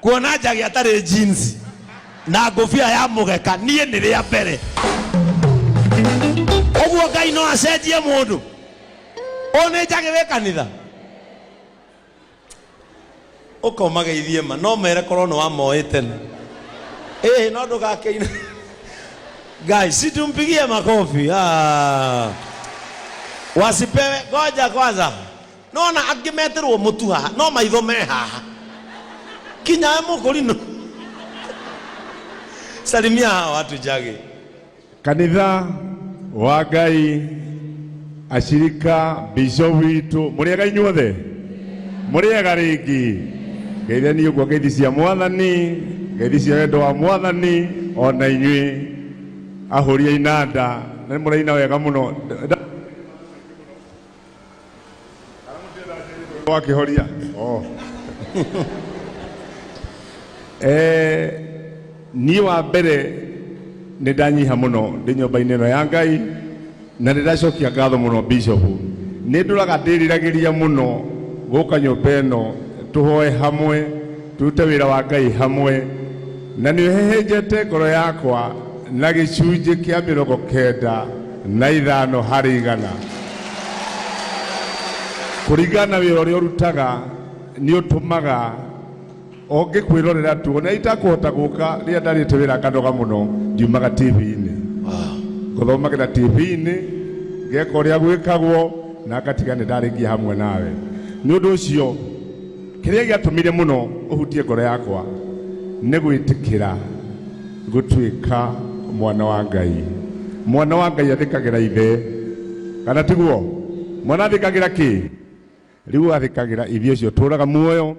kuona njagi atarĩ jeans na ngũbia ya mũgeka niĩ nĩ rĩa mbere ũguo ngai no acenjie mũndũ ũyũ nĩ njagi wĩ kanitha ũkomageithie ma no mere korwo nĩ wamoĩ tene ĩhĩ no ndũgakĩina ngai situmpigie makofi ah. wasipewe ngoja kwanza nona angĩ meterwo mũtu haha no maitho me haha kinyae mũkũrino salimia hawa watu jage kanitha wa ngai ashirika bisho witũ mũrĩega inyuothe mũrĩega rĩngĩ ngeithani ũguo ngeithi cia mwathani ngeithi cia wendo wa mwathani ona inyuĩ ahũria inanda na nĩ mũraina wega mũno wakihoria oh. eh, niĩ wa mbere nĩ ndanyiha mũno ndĩ nyũmba-inĩ ĩno ya ngai na nĩ ndacokia ngatho mũno bishop nĩ ndũraga ndĩriragĩria mũno gũka nyũmba ĩno tũhoe hamwe tũrute wĩra wa ngai hamwe na nĩ ũhehenjete ngoro yakwa na gĩcunjĩ kĩa mĩrongo kenda na ithano harĩ igana. Kũringana na wĩra ũrĩa ũrutaga nĩ ũtũmaga ũngĩkwĩrorera tu ona itakũhota gũka rĩrĩa ndarĩte wĩra nganoga mũno ngiumaga TV-inĩ ngũthomagĩra TV-inĩ ngeka ũrĩa gwĩkagwo na ngatiga nĩ ndarĩkia hamwe nawe nĩ ũndũ ũcio kĩrĩa gĩatũmire mũno ũhutie ngoro yakwa nĩ gwĩtĩkĩra gũtuĩka mwana wa ngai mwana wa ngai athĩkagĩra ithe kana tiguo mwana athĩkagĩra kĩ rĩu athĩkagĩra ithe ũcio tũraga muoyo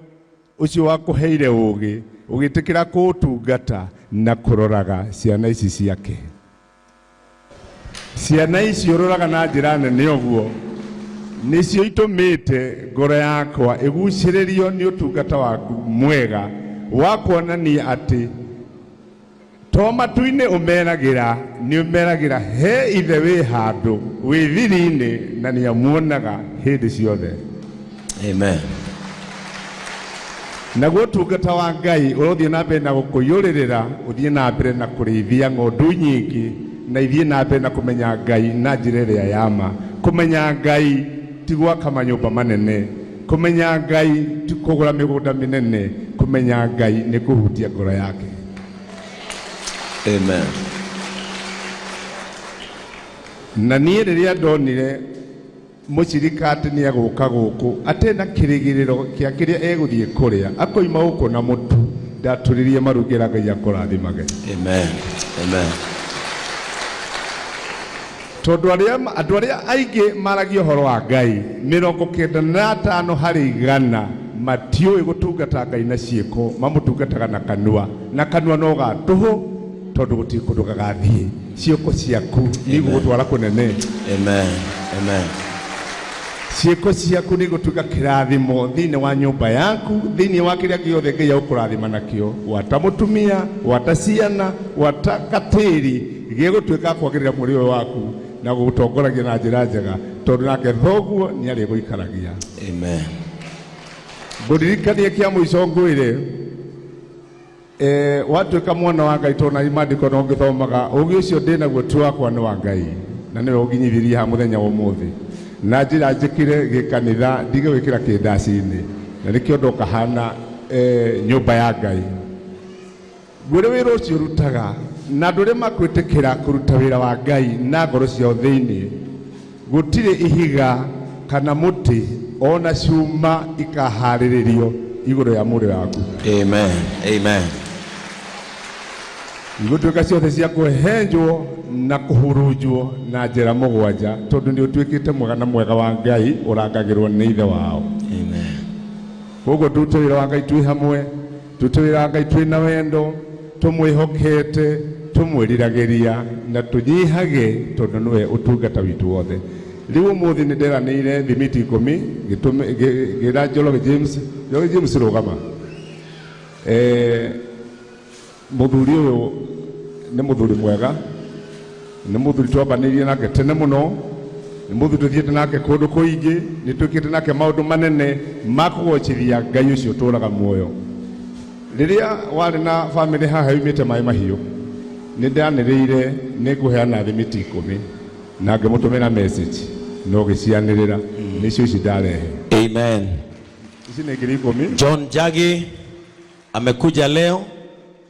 ũcio wakũheire ũũgĩ ũgĩtĩkĩra kũũtungata na kũroraga ciana ici ciake Ciana iciũrũraga na njĩra nene ũguo, nĩcio itũmĩte ngoro yakwa ĩgucĩrĩrio nĩ ũtungata waku mwega wa kuonania atĩ to matu-inĩ ũmeragĩra, nĩ ũmeragĩra he ithe wĩ handũ wĩ thiri-inĩ na nĩ amuonaga hĩndĩ ciothe. amen naguo ũtungata wa ngai ũrothiĩ na mbere na gũkũiyũrĩrĩra ũthiĩ na mbere na kũrĩithia ng'ondu nyingĩ na ithiĩ na mbere na kũmenya ngai na njĩra ĩrĩa ya ma kũmenya ngai ti gwaka manyũmba manene kũmenya ngai ti kũgũra mĩgũnda mĩnene kũmenya ngai nĩ kũhutia ngoro yake amen na niĩ rĩrĩa ndonire Mũcirika atĩ nĩegũka gũkũ atarĩ na kĩrĩgĩrĩro kĩa kĩrĩa egũthiĩ kũrĩa, akoima gũkũ na mũtu, ndatũrĩrie maru ngĩra Ngai akũrathimage. Amen. Amen. Tondũ arĩa andũ arĩa aingĩ maragia ũhoro wa Ngai, mĩrongo kenda na atano harĩ igana matiũĩ gũtungata Ngai na ciĩko, mamũtungataga na kanua, na kanua no ga tũhũ, tondũ gũtirĩ kũndũ gagathiĩ. ciĩko ciaku nĩ igũgũtwara kũnene Amen. Amen. ciĩko ciaku nĩ igũtuĩka kĩrathimo thĩinĩ wa nyũmba yaku thĩinĩ wa kĩrĩa gĩothe ngai agũkũrathima nakĩo gwata mũtumia gwata ciana gwata gatĩri gĩgũtuĩka kwagĩrĩra mũrĩ ũyũ waku na gũgũtongoragia na njĩra njega tondũ nake thoguo nĩ arĩ gũikaragia Amen. ngũririkanie kĩa mũico ngwĩre Eh, watuĩka mwana wa ngai tondũ na imandĩko no ngĩthomaga ũgĩ ũcio ndĩ naguo ti wakwa nĩ wa ngai na nĩwe ũnginyithirie ha mũthenya wa ũmũthĩ na njĩra njĩkĩre gĩkanitha ndige gwĩkĩra kĩndaci-inĩ na nĩkĩo ndoka hana eh, nyũmba ya ngai gwĩrĩ wĩra ũcio ũrutaga na andũ arĩa makwĩtĩkĩra kũruta wĩra wa ngai na ngoro ciao thĩinĩ Gũtirĩ ihiga kana mũtĩ o na ciuma ikaahaarĩrĩrio igũrũ rĩa mũrũ waku. Amen. Amen. Igũtuĩka ciothe cia kũhenjwo na kũhurunjwo na njĩra mũgwanja, tondũ nĩ ũtuĩkĩte mwega na mwega wa Ngai ũrangagĩrwo nĩ ithe wao. Amen. Koguo ndute wĩra wa Ngai twĩ hamwe. Tũtwĩra Ngai twĩ na wendo, tũmwĩhokete, tũmwĩriragĩria na tũnyihage tondũ nĩwe ũtungata witũ wothe. Rĩu ũmũthĩ nĩ nderanĩire thimiti ikũmi ngĩtũme- ngĩ- ngĩra Njoroge James, Njoroge James rũgama. Eh, mũthuri ũyũ nĩ mũthuri mwega nĩ mũthuri twambanĩirie nake tene mũno nĩ mũthuri tũthiĩte nake kũndũ kũingĩ nĩ twĩkĩte nake maũndũ manene ma kũgocithia ngai ũcio ũtũũraga muoyo rĩrĩa warĩ na bamĩrĩ haha yumĩte maĩ mahiũ nĩ ndanĩrĩire nĩ ngũheana thimiti ikũmi na ngĩmũtũmĩra message na ũgĩcianĩrĩra nĩcio ici ndarehe Amen. ici nĩ ngiri ikũmi John Jage amekuja leo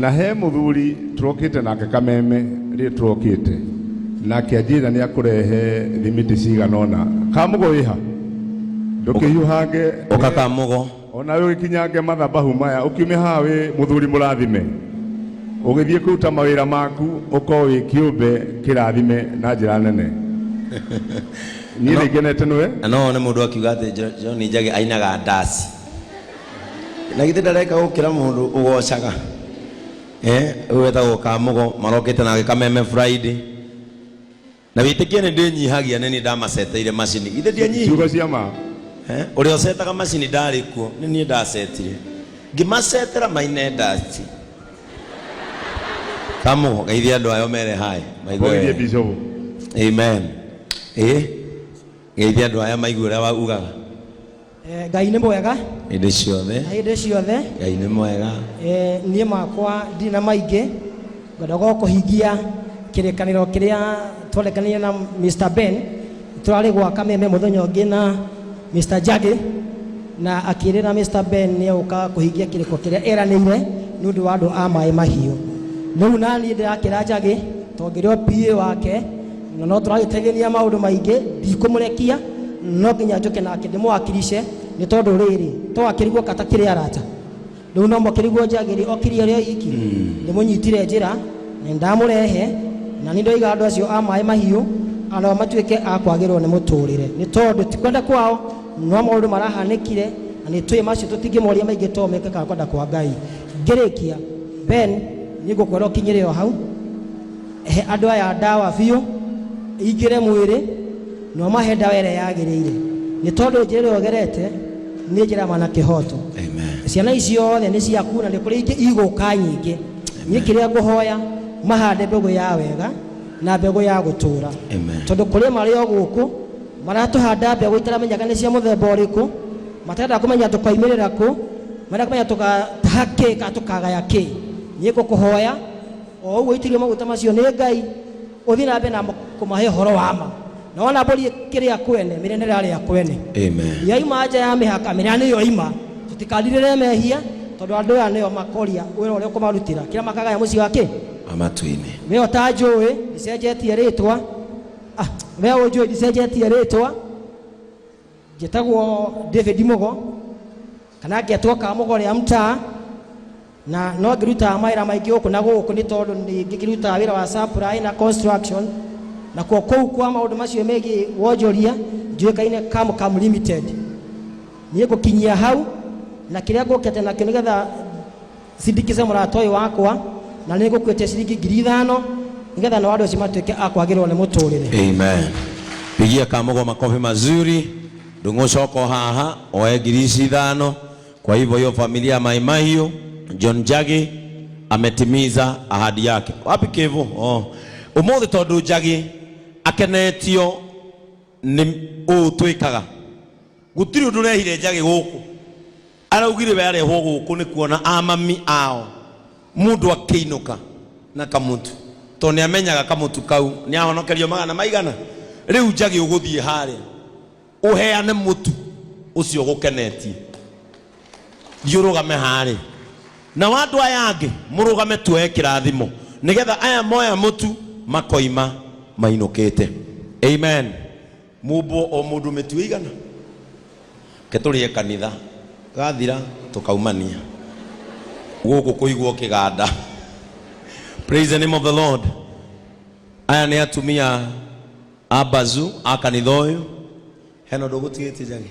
Na he mũthuri tũrokĩte nake kameme rĩrĩ tũrokĩte nake anjĩra nĩ akũrehe thimiti cigana ũna kamũgo wĩha ndũkĩhiũhange ũka kamũgo ona wĩ ũgĩkinyange mathabahu maya ũkiume haha wĩ mũthuri mũrathime ũgĩthiĩ kũruta mawĩra maku ũkorwo wĩ kĩũmbe kĩrathime na njĩra nene niĩ nĩ ngenete nĩwe na no wone mũndũ akiuga atĩ Jo- John Njagi ainaga ndaci na githĩ ndareka gũkĩra mũndũ ũgocaga Eh, ũyũ wetagwo kamugo marokĩte nake kameme friday na wĩtĩkie nĩ ndĩnyihagia nĩ niĩ ndamaceteire macini githĩ ndianyihi Ciugo cia ma. Eh, ũrĩa ũcetaga macini ndarĩ kuo nĩ niĩ ndacetire ngĩmacetera maine ndati kamugo geithia andũ ayo mere haĩ maigue Mbogirie wega. Bishop. amen ĩ geithia andũ aya maigue ũrĩa waugaga Eh, ngai nĩ mwega hĩndĩ ciothe na hĩndĩ ciothe ngai nĩ mwega Eh, niĩ makwa ndirĩ na maingĩ ngwenda gwa kũhingia kĩrĩkanĩro kĩrĩa twarekanire na mr ben tũrarĩ gwaka meme mũthenya ũngĩ na mr jagi na akĩrĩra mr ben nĩ egũka kũhingia kĩrĩko kĩrĩa eranĩire nĩ ũndũ wa andũ a maĩ mahiũ rĩu naniĩ ndĩrakĩra njagi tongĩrĩ o pa wake na no tũragĩtegenia maũndũ maingĩ ndikũmũrekia no nginya njũke nake ndĩmũwakirice nĩ tondũ rĩrĩ to akĩrigwo kata kĩrĩ arata rĩu no mũkĩrigwo njagĩrĩ okirie rĩo iki ndĩmũnyitire njĩra na ndamũrehe na nĩ ndoiga andũ acio a maĩ mahiũ anao matuĩke a kwagĩrwo nĩ mũtũrĩre nĩ tondũ ti kwenda kwao no maũndũ marahanĩkire na nĩ tũĩ macio tũtingĩmoria maingĩ to meke kana kwenda kwa ngai ngĩrĩkia ben nĩ ngũkwĩra ũkinyĩre o hau He andũ aya ndawa biũ ingĩre mwĩrĩ na ũmahe ndawa ĩrĩa yagĩrĩire nĩ tondũ njĩra ĩrĩa ũgerete nĩ njĩra mana kĩhoto Amen. ciana ici ciothe nĩ ciaku na nĩ kũrĩ ingĩ igũka nyingĩ niĩ kĩrĩa ngũhoya mahande mbegũ ya wega na mbegũ ya gũtũũra Amen. tondũ kũrĩ marĩ o gũkũ maratũhanda mbegũ itaramenyaga nĩ cia mũthemba ũrĩkũ matarenda kũmenya tũkoimĩrĩra kũ marenda kũmenya tũgataha kĩ kana tũkagaya kĩ niĩ ngũkũhoya o ũguo itirio maguta macio nĩ ngai ũthiĩ na mbere na mo- kũmahe ũhoro wa ma na wona mbũri kĩrĩa kwene mĩrĩnĩre arĩa kwene Amen. yaima nja ya mĩhaka mĩrĩa nĩyo ima tũtikarirĩre mehia tondũ andũ aya nĩo makoria wĩra ũrĩa ũkũmarutĩra kĩrĩa makagaya mũciĩ wa kĩ Amatu-inĩ. we ũtanjũĩ ndicenjetie rĩtwa Ah, we ũnjũĩ ndicenjetie rĩtwa njĩtagwo david mũgo kana ngĩatwo kamũgo rĩa mtaa na no ngĩrutaga mawĩra maingĩ gũkũ na gũkũ nĩ tondũ nĩ ngĩkĩrutaga wĩra wa supply na construction na kuo kũu kwa maũndũ macio megiĩ wonjoria njuĩkaine cam cam limited niĩ ngũkinyia hau na kĩrĩa ngũkĩte nakĩo nĩgetha Cindikice mũrata ũyũ wakwa na nĩ ngũkuĩtia ciringi ngiri ithano nĩgetha nao andũ acio matuĩke a kwagĩrĩrwo nĩ mũtũrĩre Amen. Pigia kamugo makofi mazuri. Ndung'ucoko haha oe ngiri ici ithano. Kwa hivyo hiyo familia ya Mai Mahiũ, John Njagi ametimiza ahadi yake. Wapi Kevo? Oh. Umuthi tondu Njagi akenetio ni uu twikaga Gũtirĩ ũndũ ũrehire njage gũkũ. Araugire we arehwo gũkũ nĩ kuona a mami ao mũndũ akĩinũka na kamũtu tondũ nĩ amenyaga kamũtu kau nĩ ahonokerio magana maigana. Rĩu njage ũgũthiĩ harĩa ũheane mũtu ũcio ũgũkenetie. Thiĩ ũrũgame harĩa. Nao andũ aya angĩ mũrũgame tuoye kĩrathimo nĩgetha aya moya mũtu makoima mainũkĩte. Amen. mumbwo o mundu mĩtu ĩigana ke tũrĩe kanitha gathira tũkaumania gũkũ kũigwo kĩganda praise the name of the lord aya nĩ atumia a bazu a kanitha ũyũ hena ũndũ ũgũtigĩtie njage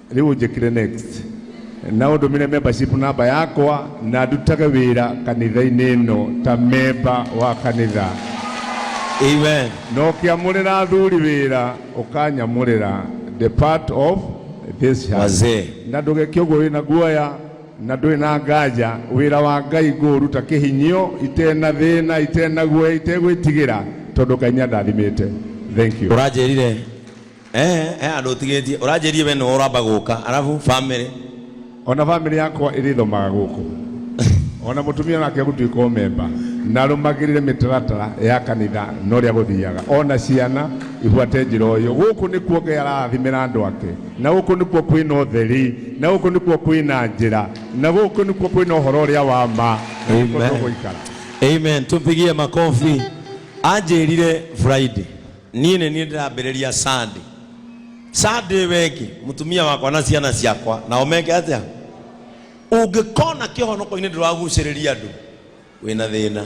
rĩu ũnjĩkĩre next na ũndũmĩre membership namba yakwa na ndutage wĩra kanitha-inĩ ĩno ta memba wa kanitha Amen. na ũkĩamũrĩra athuri wĩra ũkanyamũrĩra the part of this house. Wazee. na ndũgeke ũguo wĩ na guoya na ndũrĩ na nganja wĩra wa ngai ngũũruta kĩhinyio itena thĩna itena guoya itegwĩtigĩra tondũ ngai nĩandathimĩte thank you Ũranjĩrire eh eh andå å tigä tie å ranjä rie we nä å ramba gå ka arabu bamä ona bamĩrĩ yakwa ĩrĩthomaga gũkũ ona mũtumia nake gũtuĩka ũmemba na rũmagĩrĩre mĩtaratara ya kanitha na ũrĩa gũthiaga ona ciana ibuate njĩra ũyũ gũkũ nĩkuo ngai arathimĩra andũ ake na gũkũ nĩkuo kwĩna ũtheri na gũkũ nĩkuo kwĩna njĩra na gũkũ nĩkuo kwĩna ũhoro ũrĩa wa ma na nĩkuo Amen. tũgũikara amen tå mpigie makobi anjä rire friday niĩ nĩ niĩ ndĩrambĩrĩria Sunday. Sunday we ĩngĩ mũtumia wakwa na ciana ciakwa nao meke atĩa? Ũngĩkona kĩhonoko-inĩ ndũragucĩrĩria andũ wĩna thĩna.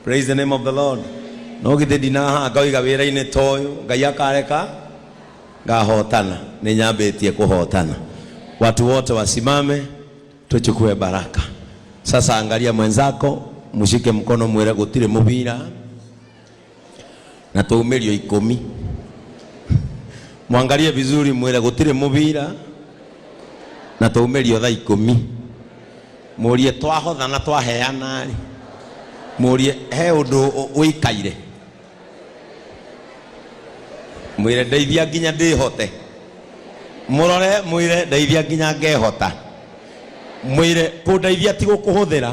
Praise the name of the Lord. No githĩ ndinahaha ngoiga wĩra-inĩ ta ũyũ Ngai akareka ngahotana, nĩ nyambĩtie kũhotana. Watu wote wasimame tuchukue baraka. Sasa angalia mwenzako, mshike mkono, mwĩre gũtirĩ mũbira na tũmĩrio ikũmi mwangalie vizuri mwĩre gũtirĩ mũbira na tũmĩrio tha ikũmi mũrie twahotha na twaheana rĩ mũrie he ũndũ ũ- ũikaire mwĩre ndeithia nginya ndĩhote mũrore mwĩre ndeithia nginya ngehota mwĩre kũndeithia ti gũkũhũthĩra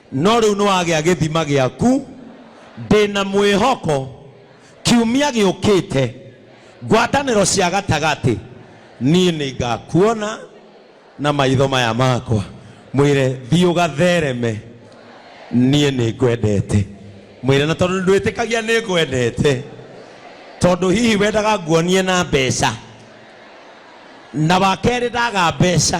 no rĩu nĩ wagĩa gĩthima gĩaku ndĩ na mwĩhoko kiumia gĩũkĩte ngwatanĩro cia gatagatĩ niĩ nĩ ngakuona na maitho maya makwa mwĩre thiĩ ũgathereme niĩ nĩ ngwendete mwĩre na tondũ ndwĩtĩkagia nĩ ngwendete tondũ hihi wendaga nguonie na mbeca na wakerĩ ndaga mbeca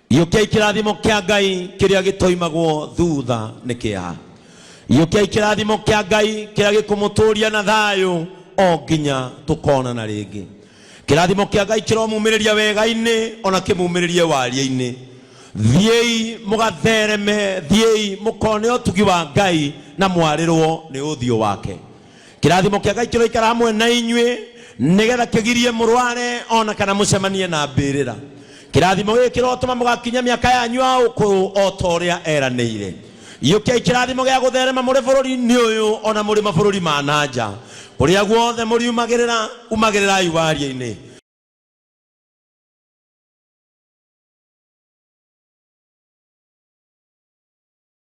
gĩũkiai kĩrathimo kĩa ngai kĩrĩa gĩtoimagwo thutha nĩ kĩeha gĩũkiai kĩrathimo kĩa ngai kĩrĩa gĩkũmũtũria na thayũ o nginya tũkonana rĩngĩ kĩrathimo kĩa ngai kĩromumĩrĩria wega-inĩ ona kĩmumĩrĩrie waria-inĩ thiĩi mũgathereme thiĩi mũkone ũtugi wa ngai na mwarĩrwo nĩ ũthiũ wake Kĩrathimo kĩa Ngai kĩroikara hamwe na inyuĩ nĩgetha kĩgirie mũrware ona kana mũcemanie na mbĩrĩra. Kĩrathimo gĩkĩ kĩrotũma mũgakinya mĩaka yanyu ya ũkũrũ o ta ũrĩa eranĩire. Iyũkiai kĩrathimo gĩa gũtherema mũrĩ bũrũri-inĩ ũyũ ona mũrĩ mabũrũri ma na nja. Kũrĩa guothe mũriumagĩrĩra, umagĩrĩrai waria-inĩ.